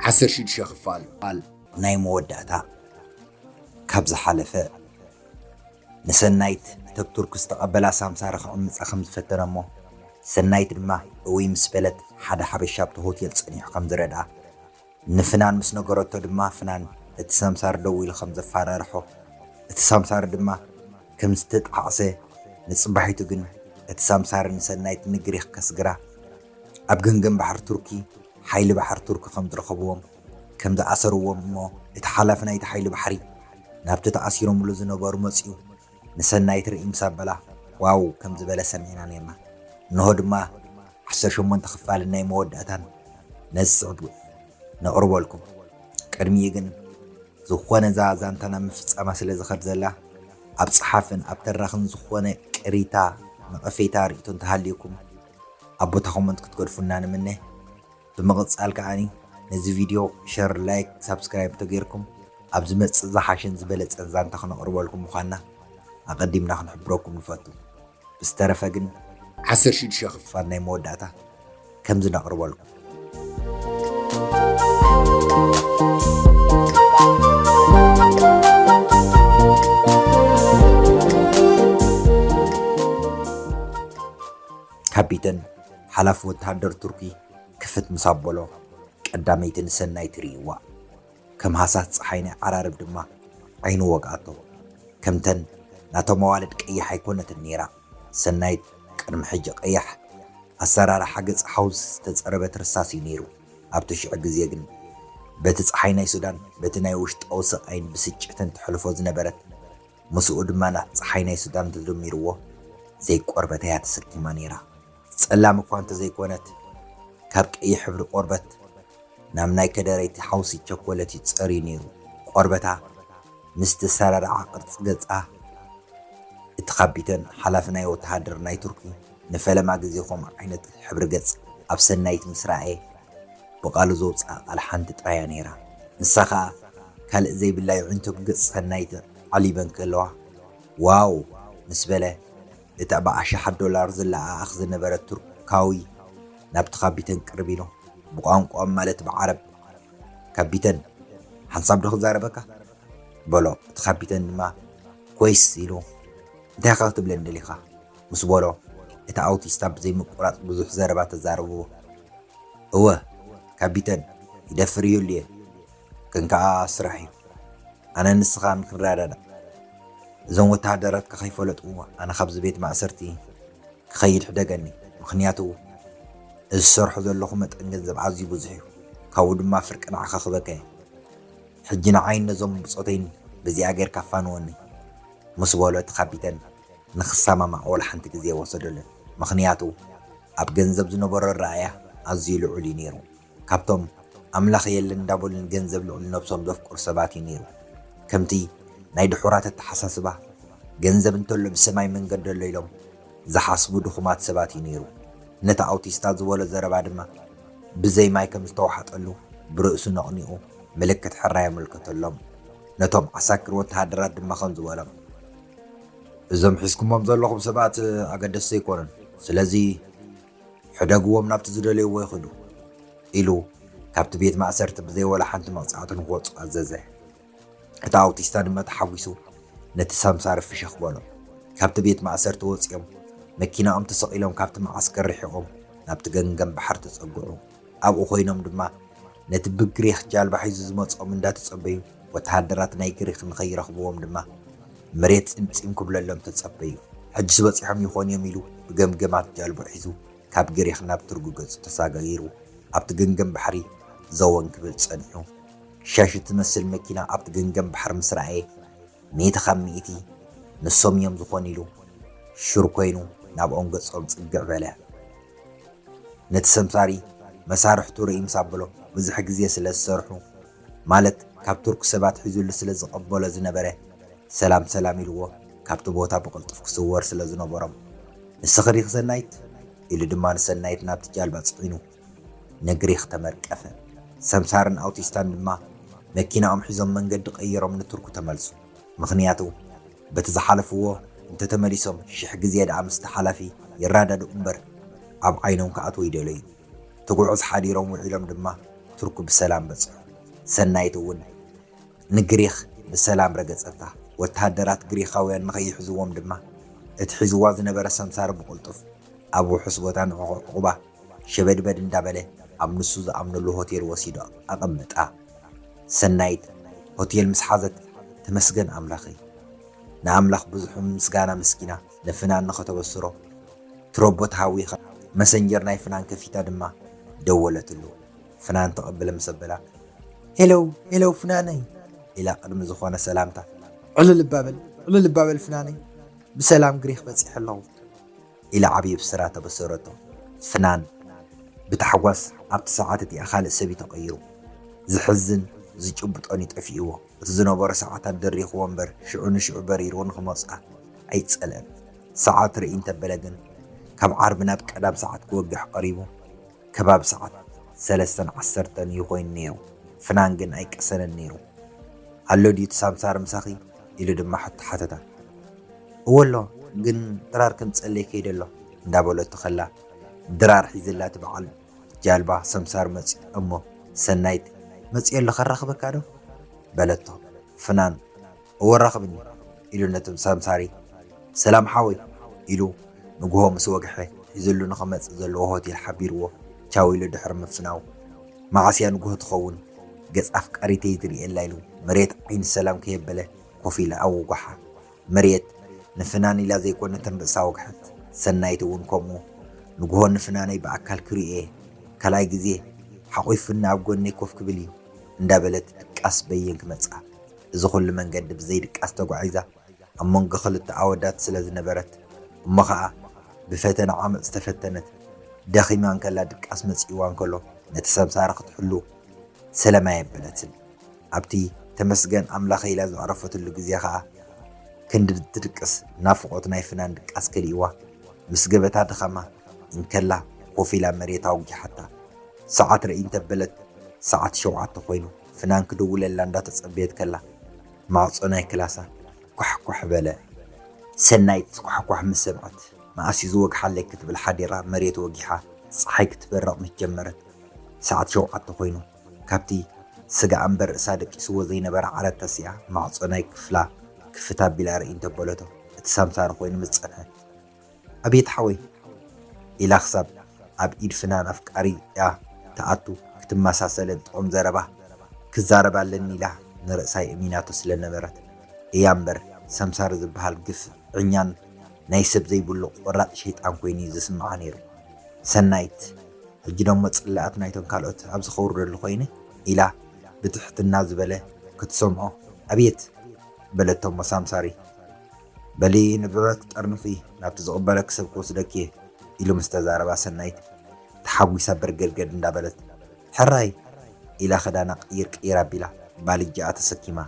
ዓሰርተ ሽዱሽተ ክፋል ቃል ናይ መወዳእታ ካብ ዝሓለፈ ንሰናይት ተብቱርክ ዝተቐበላ ሳምሳሪ ክዕምፃ ከም ዝፈተነ እሞ ሰናይት ድማ እውይ ምስ በለት ሓደ ሓበሻ ኣብቲ ሆቴል ፀኒሑ ከም ዝረድኣ ንፍናን ምስ ነገረቶ ድማ ፍናን እቲ ሰምሳር ደው ኢሉ ከም ዘፋራርሖ እቲ ሰምሳር ድማ ከም ዝተጣዕሰ ንጽባሒቱ ግን እቲ ሰምሳር ንሰናይት ንግሪክ ከስግራ ኣብ ገምገም ባሕሪ ቱርኪ ሓይሊ ባሕሪ ቱርኪ ከም ዝረኸብዎም ከም ዝኣሰርዎም እሞ እቲ ሓላፊ ናይቲ ሓይሊ ባሕሪ ናብቲ ተኣሲሮምሉ ዝነበሩ መጺኡ ንሰናይት ርእይ ምስ ኣበላ ዋው ከም ዝበለ ሰሚዕና ኔርና። እንሆ ድማ ዓሰርተ ሸሞንተ ክፋልን ናይ መወዳእታን ነዚ ጽሑፍ ነቕርበልኩም። ቅድሚኡ ግን ዝኾነ እዛ ዛንታ ናብ ምፍጻማ ስለ ዝኸድ ዘላ ኣብ ጸሓፍን ኣብ ተራኽን ዝኾነ ቅሪታ፣ ነቐፌታ፣ ርእይቶ እንተሃልዩኩም ኣብ ቦታ ኮመንት ክትገድፉልና ንምነ። ብምቕጻል ከኣ ነዚ ቪድዮ ሸር ላይክ ሳብስክራይብ እንተገይርኩም ኣብ ዝመጽእ ዝሓሸን ዝበለጸን ዛንታ ክነቕርበልኩም ምዃንና ኣቐዲምና ክንሕብረኩም ንፈቱ። ብዝተረፈ ግን ዓሰርተ ሽዱሽተ ክፋል ናይ መወዳእታ ከምዚ ነቕርበልኩም። ካፒተን ሓላፊ ወተሃደር ቱርኪ ክፍት ምስ ኣበሎ፣ ቀዳመይቲ ንሰናይ ትርእይዋ። ከም ሃሳስ ጸሓይ ናይ ዓራርብ ድማ ዓይኑ ወግኣቶ። ከምተን ናቶም ኣዋልድ ቀያሕ ኣይኮነትን ነይራ፣ ሰናይት ቅድሚ ሕጂ ቀያሕ ኣሰራርሓ ገጽ ሓውስ ዝተጸረበት ርሳስ እዩ ነይሩ፣ ኣብቲ ሽዑ ግዜ ግን በቲ ጸሓይ ናይ ሱዳን በቲ ናይ ውሽጣዊ ስቓይን ብስጭትን ተሕልፎ ዝነበረት ምስኡ ድማ ናብ ጸሓይ ናይ ሱዳን ተደሚርዎ ዘይቆርበት እያ ተሰኪማ ነይራ። ጸላም እኳ እንተዘይኮነት ካብ ቀይሕ ሕብሪ ቆርበት ናብ ናይ ከደረይቲ ሓውሲ ቸኮለት እዩ ጸርዩ ነይሩ። ቆርበታ ምስ ተሰራርዓ ቅርጺ ገጻ እቲ ካፒተን ሓላፊ ናይ ወተሃደር ናይ ቱርኪ ንፈለማ ግዜ ከምኡ ዓይነት ሕብሪ ገጽ ኣብ ሰናይት ምስ ረኣየ ብቓሉ ዘውጽኣ ቃል ሓንቲ ጥራይ እያ ነይራ፣ ንሳ ኸኣ ካልእ ዘይብላ የዒንቱ ብገጽ ሰናይት ኣዕሊበን ከለዋ ዋው ምስ በለ እቲ ብ ኣሽሓት ዶላር ዝለኣኣኽ ዝነበረ ቱርካዊ ናብቲ ካቢተን ቅርብ ኢሉ ብቋንቋኦም ማለት ብ ዓረብ ካቢተን ሓንሳብ ዶ ክዛረበካ? በሎ እቲ ካቢተን ድማ ኮይስ ኢሉ እንታይ ኢኻ ክትብለኒ ደሊኻ? ምስ በሎ፣ እቲ ኣውቲስታ ብዘይምቁራጽ ብዙሕ ዘረባ ተዛረብዎ። እወ ካቢተን፣ ይደፍር ይህሉ'የ፣ ግን ከኣ ስራሕ'ዩ። ኣነን ንስኻን ክንረዳዳእ። እዞም ወተሃደራት ከከይፈለጡ ኣነ ካብዚ ቤት ማእሰርቲ ክኸይድ ሕደገኒ፣ ምኽንያቱ እዚ ዝሰርሖ ዘለኹ መጠን ገንዘብ ኣዝዩ ብዙሕ'ዩ፣ ካብኡ ድማ ፍርቂ ንዓኻ ክበካ'የ። ሕጂ ንዓይን ነዞም ብጾተይን በዚኣ ጌርካ ፋንወኒ። ምስ በሎ እቲ ካቢተን፣ ንክሰማማዕ ዋላ ሓንቲ ግዜ ኣይወሰደሉን፣ ምኽንያቱ ኣብ ገንዘብ ዝነበሮ ኣረኣእያ ኣዝዩ ልዑል እዩ ነይሩ፣ ካብቶም ኣምላኽ የለን እንዳበሉ ንገንዘብ ልዕሊ ነብሶም ዘፍቅሩ ሰባት እዩ ነይሩ፣ ከምቲ ናይ ድሑራት ኣተሓሳስባ ገንዘብ እንተሎ ብሰማይ መንገዲ ኣሎ ኢሎም ዝሓስቡ ድኹማት ሰባት እዩ ነይሩ፣ ነቲ ኣውቲስታ ዝበሎ ዘረባ ድማ ብዘይ ማይ ከም ዝተዋሕጠሉ ብርእሱ ነቕኒቑ ምልክት ሕራይ ኣመልከተሎም፣ ነቶም ዓሳክር ወተሃደራት ድማ ከምዚ በሎም። እዞም ሒዝኩሞም ዘለኹም ሰባት ኣገደስቲ ኣይኮኑን፣ ስለዚ ሕደግዎም ናብቲ ዝደለይዎ ይኽዱ ኢሉ ካብቲ ቤት ማእሰርቲ ብዘይ ዋላ ሓንቲ መቕጻዕቲ ንኽወጹ ኣዘዘ። እቲ ኣውቲስታ ድማ ተሓጒሱ ነቲ ሳምሳሪ ፍሽኽ በሎ። ካብቲ ቤት ማእሰርቲ ወጺኦም መኪናኦም ተሰቒሎም ካብቲ መዓስከር ርሒቖም ናብቲ ገንገን ባሕሪ ተጸግዑ። ኣብኡ ኮይኖም ድማ ነቲ ብግሪኽ ጃልባ ሒዙ ዝመጽኦም እንዳተጸበዩ ወተሃደራት ናይ ግሪኽ ንኸይረኽብዎም ድማ መሬት ጺምጺም ክብለሎም ተጸበዩ። ሕጂስ በጺሖም ይኾኑ እዮም ኢሉ ብገምገማት ጃልብኡ ሒዙ ካብ ግሪኽ ናብ ቱርግ ገጹ ተሳጋጊሩ ኣብቲ ገንገም ባሕሪ ዘወን ክብል ጸኒሑ። ሻሽ እትመስል መኪና ኣብቲ ገንገም ባሕሪ ምስ ረኣየ፣ ሚእቲ ካብ ሚእቲ ንሶም ኢዮም ዝኾኑ ኢሉ ሹር ኮይኑ ናብኦም ገጾም ጽግዕ በለ። ነቲ ሰምሳሪ መሳርሕቱ ርእይ ምስ ኣበሎ ብዙሕ ግዜ ስለ ዝሰርሑ ማለት ካብ ቱርክ ሰብ ኣትሒዙሉ ስለ ዝቐበሎ ዝነበረ ሰላም ሰላም ኢልዎ ካብቲ ቦታ ብቕልጡፍ ክስወር ስለ ዝነበሮም ንስኺ ዲኺ ሰናይት? ኢሉ ድማ ንሰናይት ናብቲ ጃልባ ጽዒኑ ንግሪኽ ተመርቀፈ። ሰምሳርን ኣውቲስታን ድማ መኪናኦም ሒዞም መንገዲ ቀይሮም ንቱርኩ ተመልሱ። ምኽንያቱ በቲ ዝሓለፍዎ እንተተመሊሶም ሽሕ ግዜ ደኣ ምስቲ ሓላፊ ይራዳድኡ እምበር ኣብ ዓይኖም ክኣትዉ ኣይደለዩን። ትጉዕዝ ሓዲሮም ውዒሎም ድማ ቱርኩ ብሰላም በጽሑ። ሰናይት እውን ንግሪኽ ብሰላም ረገጸታ። ወተሃደራት ግሪኻውያን ንኸይሕዝዎም ድማ እቲ ሒዝዋ ዝነበረ ሰምሳር ብቕልጡፍ ኣብ ውሑስ ቦታ ንዕቑ ዕቑባ ሸበድበድ እንዳበለ ኣብ ንሱ ዝኣምነሉ ሆቴል ወሲዱ ኣቐመጣ። ሰናይት ሆቴል ምስ ሓዘት ተመስገን ኣምላኸይ! ንኣምላኽ ብዙሕ ምስጋና ኣመስጊና ንፍናን ንኸተበስሮ ትሮቦ ተሃዊኻ መሰንጀር ናይ ፍናን ከፊታ ድማ ደወለትሉ። ፍናን ተቐብለ ምስ ኣበላ ሄለው ሄለው ፍናነይ ኢላ ቅድሚ ዝኾነ ሰላምታ ዕልልባ በል ዕልልባ በል ፍናነይ ብሰላም ግሪኽ በጺሐ ኣለኹ። ኢላ ዓብዪ ብስራት ኣበሰረቶ። ፍናን ብታሕጓስ ኣብቲ ሰዓት እቲኣ ካልእ ሰብ እዩ ተቐይሩ። ዘሕዝን ዝጭብጦን እዩ ጠፊእዎ። እቲ ዝነበሮ ሰዓታት ደሪኽዎ እምበር ሽዑ ንሽዑ በሪሩ ንኽመጽኣ ኣይጸልእን። ሰዓት ርእይ እንተበለ ግን ካብ ዓርቢ ናብ ቀዳም ሰዓት ክወግሕ ቀሪቡ ከባቢ ሰዓት ሰለስተን ዓሰርተን እዩ ኮይኑ ነይሩ። ፍናን ግን ኣይቀሰነን ነይሩ። ኣሎ ድዩ እቲ ሳምሳር ምሳኺ? ኢሉ ድማ ሕቶ ሓተታ። እወ'ሎ፣ ግን ድራር ክንጸልይ ከይደ ኣሎ እንዳበለቶ ከላ ድራር ሒዝላ እቲ በዓል ጃልባ ሰምሳር መጽዩ እሞ ሰናይት መጽየ ኣሎ ከራኽበካ ዶ? በለቶ። ፍናን እወ ራኽብኒ ኢሉ ነቶም ሰምሳሪ ሰላም ሓወይ ኢሉ ንግሆ ምስ ወግሐ ሒዝሉ ንኽመጽእ ዘለዎ ሆቴል ሓቢርዎ ቻው ኢሉ ድሕሪ ምፍናው መዓስ እያ ንጉሆ ትኸውን ገጽ ኣፍቃሪተይ ዝርእየላ ኢሉ መሬት ዓይኒ ሰላም ከየበለ ኮፍ ኢላ ኣወጓሓ። መሬት ንፍናን ኢላ ዘይኮነ ከም ርእሳ ወግሐት። ሰናይት እውን ከምኡ። ንጉሆ ንፍናነይ ብኣካል ክርእዮ እየ። ካልኣይ ግዜ ሓቝፉኒ ኣብ ጎነይ ኮፍ ክብል እዩ። እንዳበለት ድቃስ በየን ክመጽኣ። እዚ ኩሉ መንገዲ ብዘይ ድቃስ ተጓዒዛ። ኣብ መንጎ ክልተ ኣወዳት ስለ ዝነበረት እሞ ኸኣ ብፈተነ ዓመጽ ዝተፈተነት ደኺማ እንከላ ድቃስ መጺእዋ እንከሎ ነቲ ሰምሳሪ ክትሕሉ ሰለም ኣየበለትን። ኣብቲ ተመስገን ኣምላኸይ ኢላ ዘዕረፈትሉ ግዜ ኸኣ ክንዲ ትድቅስ ናፍቖት ናይ ፍናን ድቃስ ከሊእዋ ምስ ገበታ ድኻማ እንከላ ኮፍ ኢላ መሬት ኣውጊሓታ ሰዓት ርእይ እንተበለት ሰዓት ሸውዓተ ኮይኑ ፍናን ክድውለላ እንዳተጸበየት ከላ ማዕጾ ናይ ክላሳ ኳሕኳሕ በለ። ሰናይት ኳሕኳሕ ምስ ሰምዐት፣ መኣስ'ዩ ዝወግሓለይ ክትብል ሓዲራ መሬት ወጊሓ ጸሓይ ክትበርቕ ምስ ጀመረት ሰዓት ሸውዓተ ኮይኑ። ካብቲ ስጋኣ እምበር ርእሳ ደቂስዎ ዘይነበረ ዓራት ተሲኣ ማዕጾ ናይ ክፍላ ክፍት ኣቢላ ርእይ እንተበለቶ እቲ ሳምሳሪ ኮይኑ ምስ ጸንሐት። ኣቤት ሓወይ ኢላ ክሳብ ኣብ ኢድ ፍናን ኣፍቃሪኣ ትኣቱ ክትመሳሰለን ጥዑም ዘረባ ክዛረባ ኣለኒ ኢላ ንርእሳ የእሚናቶ ስለነበረት እያ እምበር ሰምሳር ዝብሃል ግፍዕኛን ናይ ሰብ ዘይብሉ ቆራጽ ሸይጣን ኮይኑ እዩ ዝስምዓ ነይሩ ሰናይት ሕጂ ደሞ ጽላኣት ናይቶም ካልኦት ኣብዚ ከውርደሉ ኮይነ ኢላ ብትሕትና ዝበለ ክትሰምዖ ኣቤት በለቶሞ ሳምሳሪ በሊ ንብረት ጠርንፊ ናብቲ ዝቕበለኪ ሰብ ክወስደኪ'የ ኢሉ ምስ ተዛረባ ሰናይት ተሓጒሳ በርገድገድ እንዳበለት ሕራይ ኢላ ክዳና ቅይር ቅይር ኣቢላ ባልጃኣ ተሰኪማ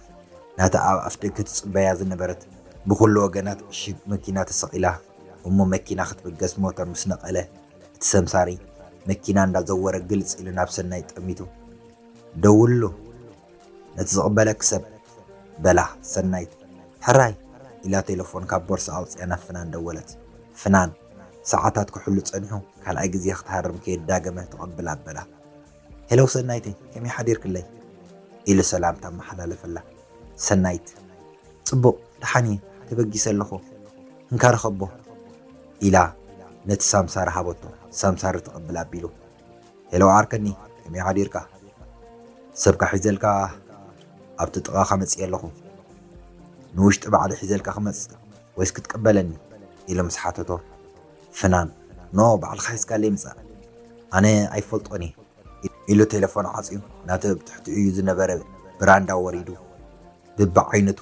ናታ ኣብ ኣፍደገ ትጽበያ ዝነበረት ብኹሉ ወገናት ዕሽግ መኪና ተሰቒላ እሞ መኪና ክትብገስ ሞተር ምስ ነቐለ እቲ ሰምሳሪ መኪና እንዳዘወረ ግልጽ ኢሉ ናብ ሰናይት ጠሚቱ ደውሉ ነቲ ዝቕበለኪ ሰብ፣ በላ ሰናይት። ሕራይ! ኢላ ቴለፎን ካብ ቦርስኣ ኣውጺኣ ናብ ፍናን ደወለት። ፍናን፣ ሰዓታት ክሕሉ ጸኒሑ ካልኣይ ግዜ ክትሃርም ከየዳገመ ተቐብላ ኣበላ። ሄሎ ሰናይተይ፣ ከመይ ሓዲርክለይ? ኢሉ ሰላምታ ኣመሓላለፈላ። ሰናይት፣ ጽቡቕ፣ ደሓን እየ፣ ተበጊሰ ኣለኹ። እንካ ርኸቦ። ኢላ ነቲ ሳምሳር ሃበቶ። ሳምሳር ተቐብላ ኣቢሉ ሄሎ ዓርከኒ ከመይ ሓዲርካ ሰብካ ሒዘልካ ኣብቲ ጥቓኻ መጺኤ ኣለኹ ንውሽጢ ባዕለይ ሒዘልካ ክመጽእ ወይስ ክትቅበለኒ ኢሉ ምስ ሓተቶ ፍናን ኖ ባዕልኻ ሒዝካለይ ምጻእ ኣነ ኣይፈልጦን እየ ኢሉ ቴለፎን ዓጽዩ ናቲ ኣብ ትሕቲኡ እዩ ዝነበረ ብራንዳ ወሪዱ ብብዓይነቱ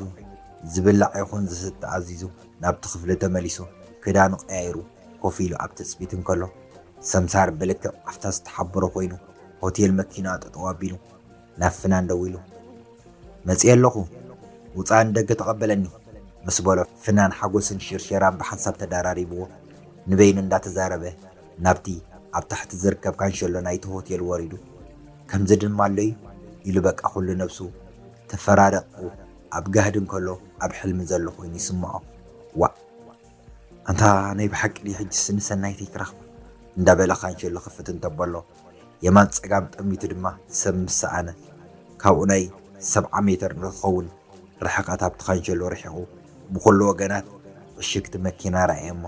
ዝብላዕ ይኹን ዝስተ ኣዚዙ ናብቲ ክፍሊ ተመሊሱ ክዳኑ ቀያይሩ ኮፍ ኢሉ ኣብ ትጽቢት እንከሎ፣ ሰምሳር ብልክዕ ኣብታ ዝተሓበሮ ኮይኑ ሆቴል መኪና ጠጠው ኣቢሉ ናብ ፍናን ደዊሉ መጺኤ ኣለኹ ውጻእ ንደገ ተቐበለኒ ምስ በሎ ፍናን ሓጎስን ሽርሸራን ብሓንሳብ ተደራሪብዎ ንበይኑ እንዳተዛረበ ናብቲ ኣብ ታሕቲ ዝርከብ ካንሸሎ ናይቲ ሆቴል ወሪዱ ከምዚ ድማ ኣሎ'ዩ ኢሉ በቃ ኩሉ ነብሱ ተፈራረቅኩ ኣብ ጋህዲ እንከሎ ኣብ ሕልሚ ዘሎ ኮይኑ ይስምዖ ዋእ ኣንታ ናይ ብሓቂ ድዩ ሕጅስ ንሰናይተይ ክረክባ እንዳ በለ ካንሸሎ ክፍት እንተበሎ የማን ጸጋም ጠሚቱ ድማ ሰብ ምስ ሰኣነ ካብኡ ናይ ሰብዓ ሜተር ንክከውን ርሕቀት ኣብቲ ካንሸሎ ርሒቁ ብኩሉ ወገናት ዕሽግቲ መኪና ረኣየሞ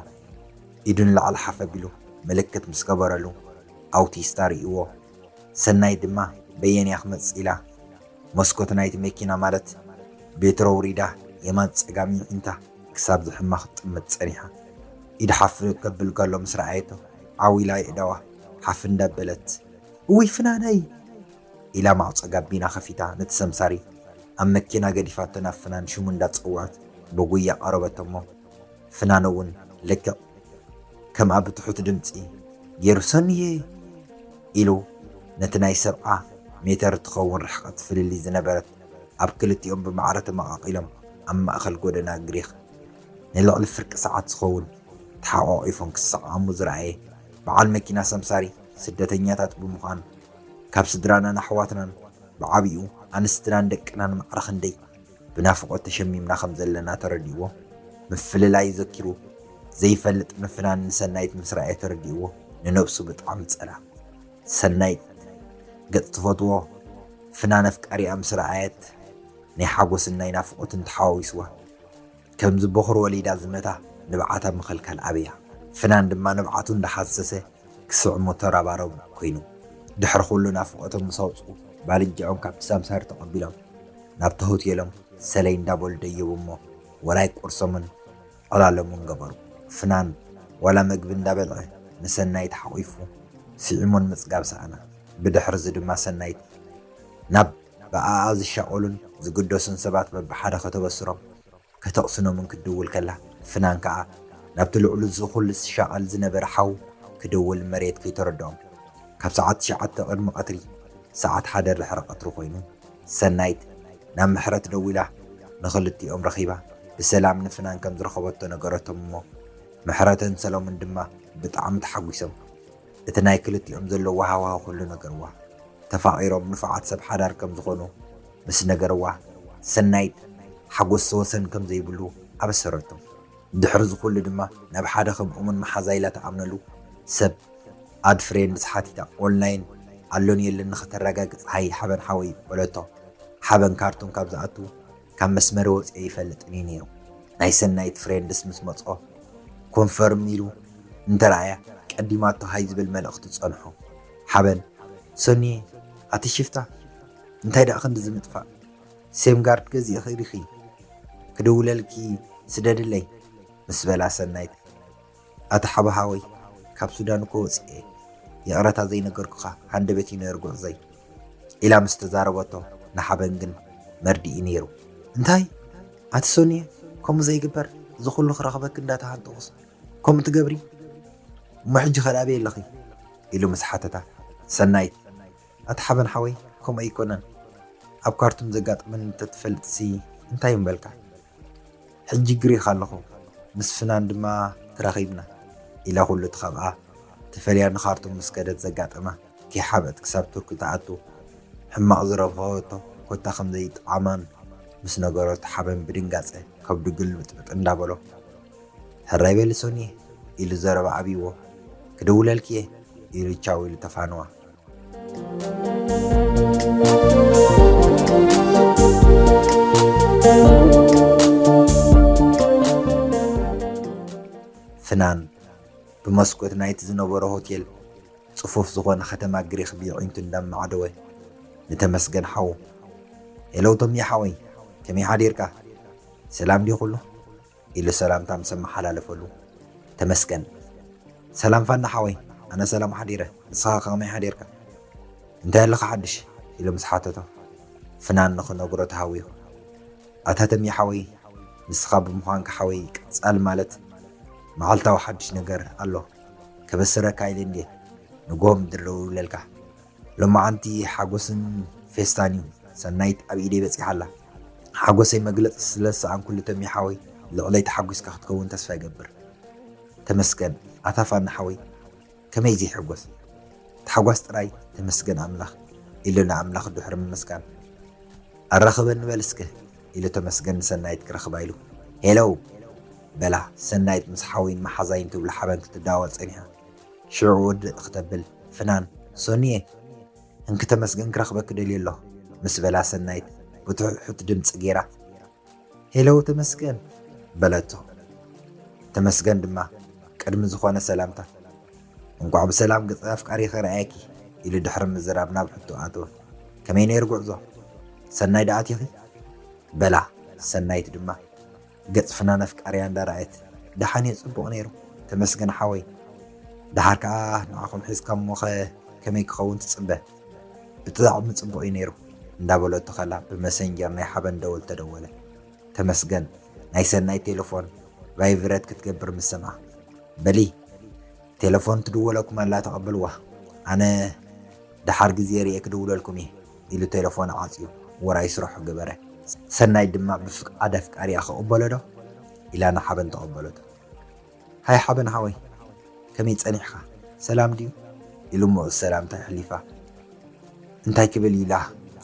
ኢዱ ንላዕሊ ሓፍ ኣቢሉ ምልክት ምስ ገበረሉ ኣውቲስታ ሪኢዎ ሰናይት ድማ በየን እያ ክመጽእ ኢላ መስኮት ናይቲ መኪና ማለት ቤትሮ ኣውሪዳ የማን ጸጋም ይዒንታ ክሳብ ዝሕማ ክትጥምት ጸኒሓ። ኢድ ሓፍ ከብል ከሎ ምስ ረኣየቶ ዓው ኢላ የእዳዋ ሓፍ እንዳበለት እውይ ፍናነይ! ኢላ ማዕጾ ጋቢና ከፊታ ነቲ ሰምሳሪ ኣብ መኪና ገዲፋቶ ናብ ፍናን ሽሙ እንዳጸውዐት ብጉያ ቀረበቶ'ሞ፣ ፍናኖ'ውን ልክዕ ከምኣ ብትሑት ድምጺ ገይሩ ሰኑየይ! ኢሉ ነቲ ናይ ሰብዓ ሜተር እትኸውን ርሕቐት ፍልልይ ዝነበረት ኣብ ክልቲኦም ብማዕረ ተመቓቒሎም ኣብ ማእከል ጎደና ግሪኽ ንልዕሊ ፍርቂ ሰዓት ዝኸውን ተሓቋቒፎም ክሰዓዓሙ ዝረኣየ በዓል መኪና ሰምሳሪ ስደተኛታት ብምዃኑ ካብ ስድራናን ኣሕዋትናን ብዓቢኡ ኣንስትናን ደቅናን ማዕረ ክንደይ ብናፍቖት ተሸሚምና ከም ዘለና ተረዲእዎ። ምፍልላይ ዘኪሩ ዘይፈልጥ ምፍናን ንሰናይት ምስ ረኣየ ተረዲእዎ ንነብሱ ብጣዕሚ ጸልኣ። ሰናይት ገጽ ትፈትዎ ፍናን ኣፍቃሪኣ ምስ ረኣየት ናይ ሓጎስን ናይ ናፍቖትን ተሓዋዊስዋ። ከምዚ ቦኹሪ ወሊዳ ዝመታ ንብዓታ ምኽልካል ኣብያ። ፍናን ድማ ንብዓቱ እንዳሓሰሰ ክስዕሞ ተረባረቡ ኮይኑ። ድሕሪ ኩሉ ናፍቖቶም ምስ ኣውጽኡ ባልንጅኦም ካብቲ ሳምሳሪ ተቐቢሎም ናብቲ ሆቴሎም ሰለይ እንዳበሉ ደየቡ'ሞ ወራይ ቁርሶምን ዕላሎምን ገበሩ። ፍናን ዋላ መግቢ እንዳበልዐ ንሰናይት ሓቑፉ ስዒሙ ንምጽጋብ ሰኣና። ብድሕሪ'ዚ ድማ ሰናይት ናብ። ብኣኣ ዝሻቐሉን ዝግደሱን ሰባት በብሓደ ከተበስሮም፣ ከተቕስኖምን ክትድውል ከላ፣ ፍናን ከኣ ናብቲ ልዕሉ እዚ ኩሉ ዝሻቐል ዝነበረ ሓው ክድውል መሬት ከይተረድኦም፣ ካብ ሰዓት ትሽዓተ ቅድሚ ቀትሪ፣ ሰዓት ሓደ ድሕሪ ቀትሪ ኮይኑ፣ ሰናይት ናብ ምሕረት ደዊላ ንኽልቲኦም ረኺባ ብሰላም ንፍናን ከም ዝረኸበቶ ነገረቶም እሞ፣ ምሕረትን ሰሎምን ድማ ብጣዕሚ ተሓጒሶም። እቲ ናይ ክልቲኦም ዘለዎ ሃዋሁ ኩሉ ነገርዋ። ተፋቒሮም ንፉዓት ሰብ ሓዳር ከም ዝኾኑ ምስ ነገርዋ፣ ሰናይት ሓጎስ ወሰን ከም ዘይብሉ ኣበሰረቶ። ድሕሪ እዚ ኩሉ ድማ ናብ ሓደ ከም እሙን መሓዛ ኢላ ትኣምነሉ ሰብ፣ ኣድ ፍሬንድስ፣ ሓቲታ። ኦንላይን ኣሎን የለን ንኸተረጋግጽ ሃይ ሓበን ሓወይ በለቶ። ሓበን ካርቱም ካብ ዝኣቱ ካብ መስመረይ ወጺኤ ኣይፈልጥን እዩ ነይሩ። ናይ ሰናይት ፍሬንድስ ምስ መጽኦ ኮንፈርም ኢሉ እንተረኣያ ቀዲማቶ ሃይ ዝብል መልእኽቲ ጸንሑ። ሓበን፣ ሰኑየ ኣቲ ሽፍታ እንታይ ደኣ ክንድዚ ምጥፋእ? ሴም ጋርድ ገዚእኺ ዲኺ? ክድውለልኪ ስደድለይ ምስ በላ ሰናይት ኣታ ሓውሓወይ ካብ ሱዳን እኮ ወጺኤ ይቕረታ ዘይነገርኩኻ ሃንደበት እዩ ነይሩ ጉዕዞይ ኢላ ምስ ተዛረበቶ ንሓበን ግን መርድእ'ዩ ነይሩ። እንታይ ኣቲ ሶንየ ከምኡ ዘይግበር እዚ ኩሉ ክረኽበኪ እንዳተሃንጠኹስ ከምኡ ትገብሪ እሞ ሕጂ ከ ኣበይ ኣለኺ ኢሉ ምስ ሓተታ ሰናይት ኣቲ ሓበን ሓወይ ከምኡ ኣይኮነን ኣብ ካርቱም ዘጋጠመኒ እንተትፈልጥሲ እንታይ ምበልካ ሕጂ ግሪኽ ኣለኹ፣ ምስ ፍናን ድማ ተራኺብና ኢላ ኩሉ እቲ ካብኣ ተፈልያ ንኻርቱም ምስ ከደት ዘጋጠማ ከይሓብአት ክሳብ ቱርኪ ትኣቱ ሕማቕ ዝረብሐቶ ኮታ ከም ዘይጥዓማን ምስ ነገረቶ ሓበን ብድንጋጸ ከብዱ ግልብጥብጥ እንዳበሎ ሕራይ በሊ ሶንየ ኢሉ ዘረባ ኣብይዎ ክድውለልኪ'የ ኢሉ ቻው ኢሉ ተፋነዋ። ፍናን ብመስኮት ናይቲ ዝነበሮ ሆቴል ጽፉፍ ዝኾነ ከተማ ግሪኽ ብየዒንቱ እንዳማዕደወ ንተመስገን ሓዉ ሄሎ ቶሚ ሓወይ ከመይ ሓዲርካ ሰላም ድዩ ኩሉ ኢለ ሰላምታ ምስ ኣመሓላለፈሉ፣ ተመስገን። ሰላም ፋና ሓወይ፣ ኣነ ሰላም ሓዲረ፣ ንስኻ ከ ከመይ ሓዲርካ? እንታይ ኣለካ ሓድሽ? ኢሉ ምስ ሓተቶ፣ ፍናን ንኽነግሮ ተሃዊኹ፣ ኣታ ተምየ ሓወይ፣ ንስኻ ብምዃንካ ሓወይ ቀጻሊ ማለት መዓልታዊ ሓድሽ ነገር ኣሎ፣ ከበስረካ ኢለ እንድየ ንግሆ ምድሪ ደዊለልካ። ሎማዓንቲ ሓጎስን ፌስታን እዩ ሰናይት ኣብ ኢደይ በጺሓ ኣላ ሓጎሰይ መግለጺ ስለ ዝሰኣንኩሉ ተሜ ሓወይ ልዕለይ ተሓጒስካ ክትከውን ተስፋ ይገብር ተመስገን ኣታ ፋኒ ሓወይ ከመይ ዘይሕጎስ ታሕጓስ ጥራይ ተመስገን ኣምላኽ ኢሉ ንኣምላኽ ድሕሪ ምምስጋን ኣራኽበን ንበል እስከ ኢሉ ተመስገን ንሰናይት ክረኽባ ኢሉ ሄለው በላ ሰናይት ምስ ሓወይን መሓዛይን ትብሉ ሓበን ክትዳወል ጸኒሓ ሽዑ ውድእ ክተብል ፍናን፣ ሶንዬ! እንኪ ተመስገን ክረኽበኪ ደልየ ኣለኹ ምስ በላ ሰናይት ብትሑት ድምጺ ገይራ፣ ሄለው ተመስገን! በለቶ። ተመስገን ድማ ቅድሚ ዝኾነ ሰላምታ፣ እንቋዕ ብሰላም ገጸ ኣፍቃሪኺ ረኣየኪ ኢሉ ድሕሪ ምዝራብ ናብ ሕቶ ኣተወ። ከመይ ነይሩ ጉዕዞ? ሰናይ ደኣ ኣቲኺ? በላ። ሰናይት ድማ፣ ገጽ ፍናን ኣፍቃርያ እንዳ ራኣየት ዳሓን እየ ጽቡቅ ነይሩ ተመስገን ሓወይ ዳሓር ካኣ ንዓኹም ሒዝካ እሞኸ ከመይ ክኸውን ትጽበ ብጥዕሚ ጽቡቅ እዩ ነይሩ እንዳ በለቶ ከላ ብመሰንጀር ናይ ሓበን ደወል ተደወለ ተመስገን ናይ ሰናይት ቴለፎን ቫይቭረት ክትገብር ምስ ሰምዓ በሊ ቴለፎን ትድወለኩም ኣላ ተቀበልዋ ኣነ ዳሓር ግዜ ሪኤ ክድውለልኩም እየ ኢሉ ቴለፎን ዓጽዩ ውራይ ስራሑ ገበረ። ሰናይት ድማ ብፍቓድ ኣፍቃሪኣ ክቕበሎዶ? ኢላ ንሓበን ተቐበለቶ። ሃይ ሓበን ሓወይ ከመይ ጸኒሕካ ሰላም ድዩ? ኢሉ ምዑዝ ሰላምታ የሕሊፋ። እንታይ ክብል ኢላ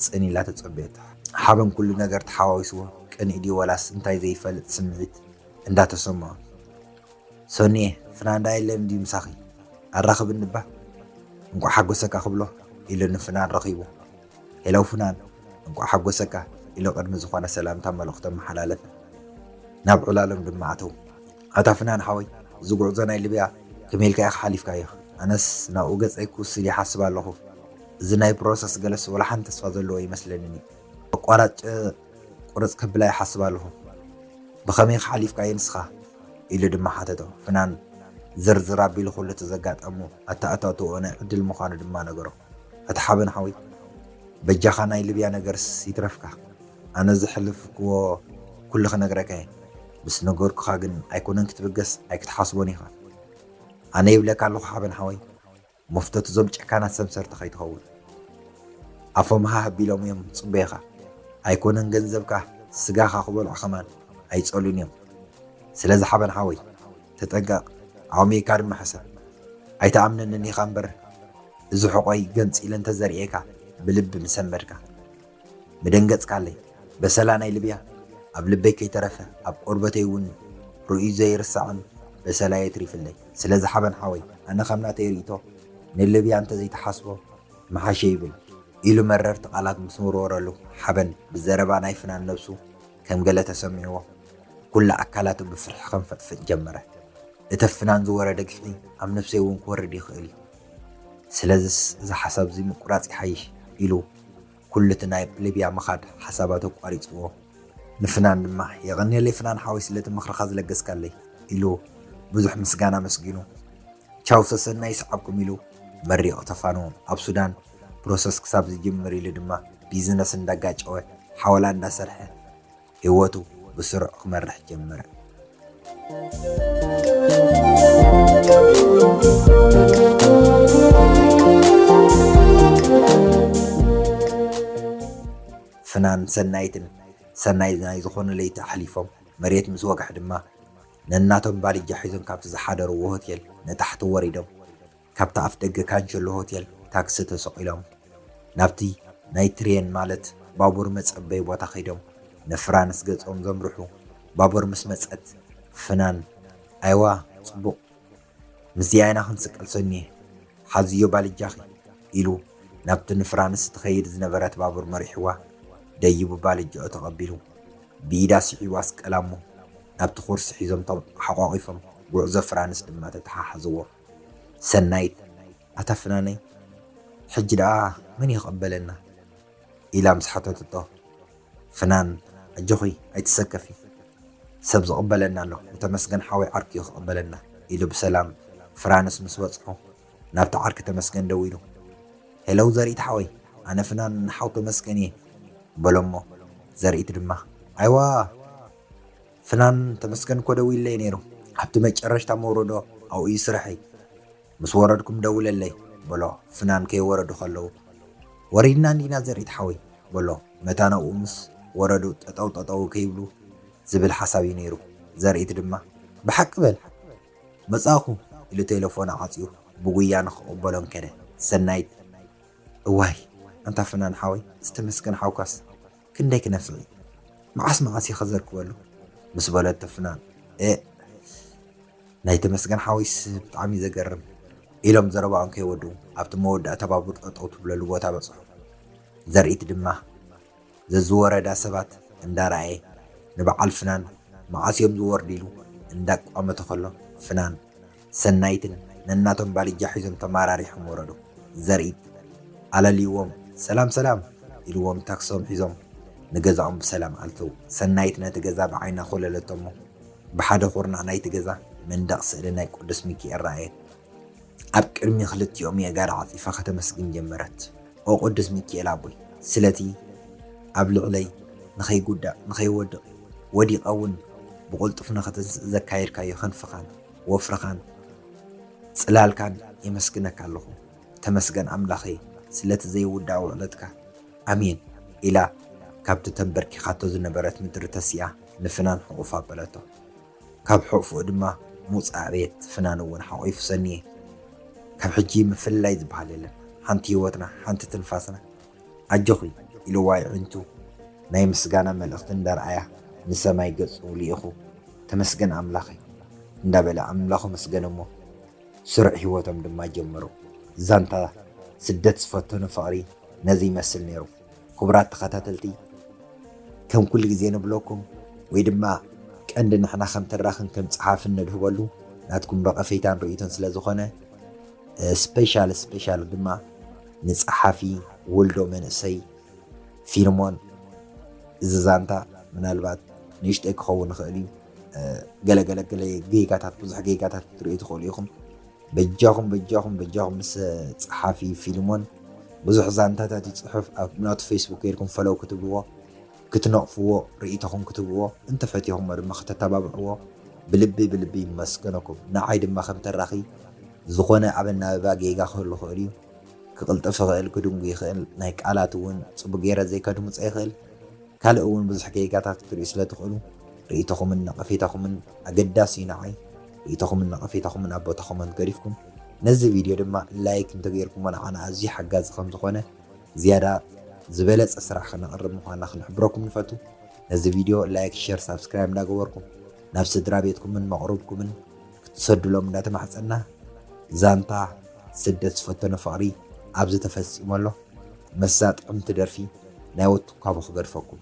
ጽን ኢላ ተጸበየቶ። ሓበን ኩሉ ነገር ተሓዋዊስዎ ቅንኢ ድዩ ወላስ እንታይ ዘይፈልጥ ስምዒት እንዳተሰምዖ። ሰኑየ ፍናንዳ የለን ድዩ ምሳኺ ኣራኽብኒ እባ እንቋዕ ሓጎሰካ ክብሎ ኢሉ ንፍናን ረኺቡ ሄለው ፍናን እንቋዕ ሓጎሰካ ኢሉ ቅድሚ ዝኾነ ሰላምታ መልእኽቱ ኣመሓላለፈ ናብ ዕላሎም ድማ ኣተው ኣታ ፍናን ሓወይ እዚ ጉዕዞ ናይ ልብያ ከመይ ኢልካ ኢኻ ሓሊፍካዮ ኣነስ ናብኡ ገጸይ ክውስድ ይሓስብ ኣለኹ እዚ ናይ ፕሮሰስ ገለስ ወላ ሓንቲ ተስፋ ዘለዎ ኣይመስለንን እዩ ኣቋራጭ ቁርጽ ከብላ ይሓስብ ኣለኹ። ብኸመይከ ሓሊፍካዮ ንስኻ? ኢሉ ድማ ሓተቶ። ፍናን ዝርዝር ኣቢሉ ኩሉ እቲ ዘጋጠሞ ኣተኣታትውኦ ናይ ዕድል ምዃኑ ድማ ነገሮ። ኣታ ሓበን ሓወይ፣ በጃኻ ናይ ልብያ ነገርስ ይትረፍካ፣ ኣነ ዘሕለፍክዎ ኩሉ ክነግረካ እየ። ምስ ነገርኩኻ ግን ኣይኮነን ክትብገስ ኣይክትሓስቦን ኢኻ። ኣነ ይብለካ ኣለኹ ሓበን ሓወይ። መፍቶት እዞም ጨካናት ሰምሰርቲ ከይትኸውን ኣፎም ሃህ ኣቢሎም እዮም ዝጽበዩኻ ኣይኮነን ገንዘብካ ስጋኻ ክበልዑ ከማን ኣይጸሉን እዮም ስለዚ ሓበን ሓወይ ተጠንቀቅ ኣእምይካ ድማ ሕሰብ ኣይትኣምነንን ኢኻ እምበር እዚ ሕቆይ ገንጺለ እንተዘርእየካ ብልቢ ምሰመድካ። ምደንገጽካለይ በሰላ ናይ ልብያ ኣብ ልበይ ከይተረፈ ኣብ ቆርበተይ ውን ርእዩ ዘይርሳዕን በሰላ የትሪፍለይ ስለዚ ሓበን ሓወይ ኣነ ከም ናተይ ሪኢቶ ንልብያ እንተዘይ ትሓስቦ ምሓሸ ይብል ኢሉ መረርቲ ቃላት ምስ ወርወረሉ ሓበን ብዘረባ ናይ ፍናን ነብሱ ከም ገለ ተሰሚዕዎ ኩላ ኣካላቱ ብፍርሒ ከንፈጥፍጥ ጀመረ እተ ፍናን ዝወረደ ግፍዒ ኣብ ነብሰይ ውን ክወርድ ይኽእል እዩ ስለዝስ እዚ ሓሳብ እዚ ምቁራጽ ይሓይሽ ኢሉ ኩሉ እቲ ናብ ሊብያ ምኻድ ሓሳባት ኣቋሪጽዎ። ንፍናን ድማ፣ የቐንየለይ ፍናን ሓወይ ስለቲ ምኽርኻ ዝለገስካለይ ኢሉ ብዙሕ ምስጋና ኣመስጊኑ፣ ቻው ሰሰናዩ ይስዓብኩም ኢሉ መሪቑ ተፋንዉ። ኣብ ሱዳን ፕሮሰስ ክሳብ ዝጅምር ኢሉ ድማ ቢዝነስ እንዳጋጨወ ሓወላ እንዳሰርሐ፣ ህይወቱ ብስሩዕ ክመርሕ ጀመረ። ፍናን ሰናይትን ሰናይ ናይ ዝኾነ ለይቲ ኣሕሊፎም መሬት ምስ ወግሐ ድማ ነናቶም ባልጃ ሒዞም ካብቲ ዝሓደርዎ ሆቴል ንታሕቲ ወሪዶም ካብቲ ኣፍደገ ካጀሎ ሆቴል ታክሲ ተሰቒሎም ናብቲ ናይ ትሬን ማለት ባቡር መጸበዪ ቦታ ከይዶም ንፍራንስ ገጾም ዘምርሑ። ባቡር ምስ መጸት ፍናን ኣይዋ ጽቡቕ ምስዚኣ ኢና ክንስቀል ሰኑየ ሓዝዮ ባልጃኺ ኢሉ ናብቲ ንፍራንስ ትኸይድ ዝነበረት ባቡር መሪሕዋ። ደይቡ ባልጃኡ ተቐቢሉ ብኢዳ ስሒቡ ኣስቀላ'ሞ ናብቲ ኩርሲ ሒዞምቶም ሓቋቒፎም ጉዕዞ ፍራንስ ድማ ተተሓሓዝዎ። ሰናይት ኣታ ፍናነይ ሕጂ ደኣ መን እዩ ክቕበለና? ኢላ ምስ ሓተተቶ፣ ፍናን ኣጆኺ ኣይትሰከፊ ሰብ ዝቕበለና ኣሎ ንተመስገን ሓወይ ዓርኩ እዩ ክቕበለና ኢሉ ብሰላም ፍራንስ ምስ በጽሑ ናብቲ ዓርኪ ተመስገን ደዊሉ ሄለው ዘርኢት ሓወይ ኣነ ፍናን ሓው ተመስገን እየ በሎሞ ዘርኢት ድማ ኣይዋ ፍናን ተመስገን እኮ ደዊለይ ነይሩ ኣብቲ መጨረሽታ መውረዶ ኣብኡ እዩ ስርሐይ ምስ ወረድኩም ደውለለይ በሎ ፍናን ከይወረዱ ከለው ወሪድና እንዲና ዘሪት ሓወይ በሎ መታን ኣብኡ ምስ ወረዱ ጠጠው ጠጠው ከይብሉ ዝብል ሓሳብ እዩ ነይሩ ዘሪት ድማ ብሓቂ በል መጻእኹ ኢሉ ቴለፎን ኣዓጽዩ ብጉያ ንክቕበሎም ከደ ሰናይት እዋይ ኣንታ ፍናን ሓወይ እዚ ተመስገን ሓውካስ ክንደይ ክነፍዕ እዩ መዓስ መዓስ እየ ክዘርግበሉ ምስ በለቶ ፍናን ኤእ ናይ ተመስገን ሓወይስ ብጣዕሚ እዩ ዘገርም ኢሎም ዘረባኦም ከይወድኡ ኣብቲ መወዳእታ ባቡር ጠጠው ትብለሉ ቦታ በፅሑ። ዘርኢት ድማ ዘዝወረዳ ሰባት እንዳረኣየ ንበዓል ፍናን መዓስ እዮም ዝወርዱ ኢሉ እንዳቋመተ ከሎ ፍናን ሰናይትን ነናቶም ባልጃ ሒዞም ተማራሪሖም ወረዱ። ዘርኢ ኣለልይዎም ሰላም ሰላም ኢልዎም ታክሶም ሒዞም ንገዛኦም ብሰላም ኣተዉ። ሰናይት ነቲ ገዛ ብዓይና ኮለለቶ'ሞ ብሓደ ኩርናዕ ናይቲ ገዛ መንደቕ ስእሊ ናይ ቅዱስ ሚኪኤል ረኣየት። ኣብ ቅድሚ ክልቲኦም የእጋራ ዓጺፋ ከተመስግን ጀመረት። ኦ ቅዱስ ሚኪኤል ኣቦይ ስለቲ ኣብ ልዕለይ ንኸይጉዳእ ንኸይወድቕ ወዲቐ'ውን ብቕልጡፍ ንኽትንስእ ዘካየድካዮ ክንፍኻን፣ ወፍርኻን ጽላልካን የመስግነካ ኣለኹ ተመስገን ኣምላኸይ ስለቲ ዘይውዳእ ውዕለትካ ኣሜን ኢላ ካብቲ ተምበርኪኻቶ ዝነበረት ምድሪ ተሲኣ ንፍናን ሕቑፍ ኣበለቶ ካብ ሕቕፍኡ ድማ ሙጽ ኣዕበየት ፍናን እውን ሓቒፉ ሰንየ ካብ ሕጂ ምፍልላይ ዝበሃል የለን ሓንቲ ህይወትና ሓንቲ ትንፋስና ኣጆኺ ኢልዋ የዒንቱ ናይ ምስጋና መልእኽቲ እንዳርኣያ ንሰማይ ገጹ ልኢኹ ተመስገን ኣምላኸይ እንዳበለ ኣምላኹ ኣመስገነ'ሞ ስሩዕ ሂወቶም ድማ ጀመሩ። ዛንታ ስደት ዝፈተኑ ፍቕሪ ነዚ ይመስል ኔሩ ክቡራት ተኸታተልቲ ከም ኩሉ ግዜ ንብለኩም ወይ ድማ ቀንዲ ንሕና ከም ተራኽን ከም ጸሓፍን ነድህበሉ ናትኩም ረቐፌታን ርእይቶን ስለ ዝኾነ ስፔሻል ስፔሻል ድማ ንጸሓፊ ወልዶ መንእሰይ ፊልሞን እዚ ዛንታ ምናልባት ንእሽተይ ክኸውን ይኽእል እዩ። ገለ ገለ ገለ ጌጋታት ብዙሕ ጌጋታት ክትርእዩ ትኽእሉ ኢኹም። በጃኹም በጃኹም በጃኹም ምስ ጸሓፊ ፊልሞን ብዙሕ ዛንታታት ይጽሑፍ ኣብ ናቱ ፌስቡክ ጌርኩም ፈለው ክትብልዎ ክትነቕፍዎ ርኢቶኹም ክትህብዎ እንተ ፈቲኹሞ ድማ ከተተባብዕዎ ብልቢ ብልቢ ይመስገነኩም ንዓይ ድማ ከም ተራኺ ዝኾነ ኣብ ኣናብባ ጌጋ ክህሉ ይኽእል እዩ ክቕልጥፍ ይኽእል ክድንጉይ ይኽእል ናይ ቃላት እውን ጽቡቕ ጌረ ዘይከድምጾ ይኽእል ካልእ እውን ብዙሕ ጌጋታት ክትርእዩ ስለ ትኽእሉ ርኢቶኹምን ነቐፌታኹምን ኣገዳሲ እዩ ንዓይ ርኢቶኹምን ነቐፌታኹምን ኣብ ቦታኹም ኣንት ገዲፍኩም ነዚ ቪድዮ ድማ ላይክ እንተገይርኩሞ ንዓና ኣዝዩ ሓጋዚ ከም ዝኾነ ዝያዳ ዝበለጸ ስራሕ ከነቕርብ ምዃንና ክንሕብረኩም ንፈቱ። ነዚ ቪድዮ ላይክ፣ ሼር፣ ሳብስክራይብ እንዳገበርኩም ናብ ስድራ ቤትኩምን መቕርብኩምን ክትሰዱሎም እንዳተማሕጸንና ዛንታ ስደት ዝፈተኖ ፍቕሪ ኣብዚ ተፈጺሙ ኣሎ። ምስዛ ጥዕምቲ ደርፊ ናይ ወትኳቦ ክገድፈኩም።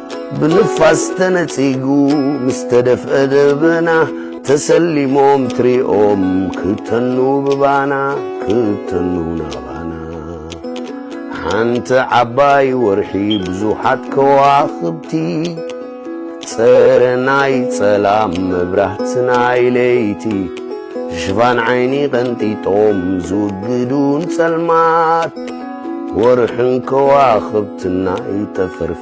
ብንፋስ ተነጺጉ ምስ ተደፍአ ደበና ተሰሊሞም ትሪኦም ክተኑ ብባና ክተኑ ናባና ሓንቲ ዓባይ ወርሒ ብዙሓት ከዋኽብቲ ጸረ ናይ ጸላም መብራህቲ ናይ ለይቲ ሽፋን ዓይኒ ቐንጢጦም ዝውግዱን ጸልማት ወርሕን ከዋኽብትና ይጠፈርፍ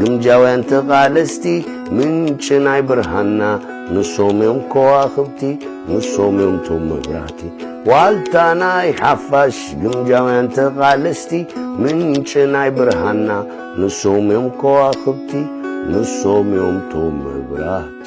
ግምጃውያን ተቓለስቲ ምንጪ ናይ ብርሃንና ንሶም እዮም ኮዋኽብቲ ንሶም እዮም ቶም መብራህቲ ዋልታ ናይ ሓፋሽ ግምጃውያን ተቓለስቲ ምንጪ ናይ ብርሃንና ንሶም እዮም ኮዋኽብቲ ንሶም እዮም ቶም መብራህቲ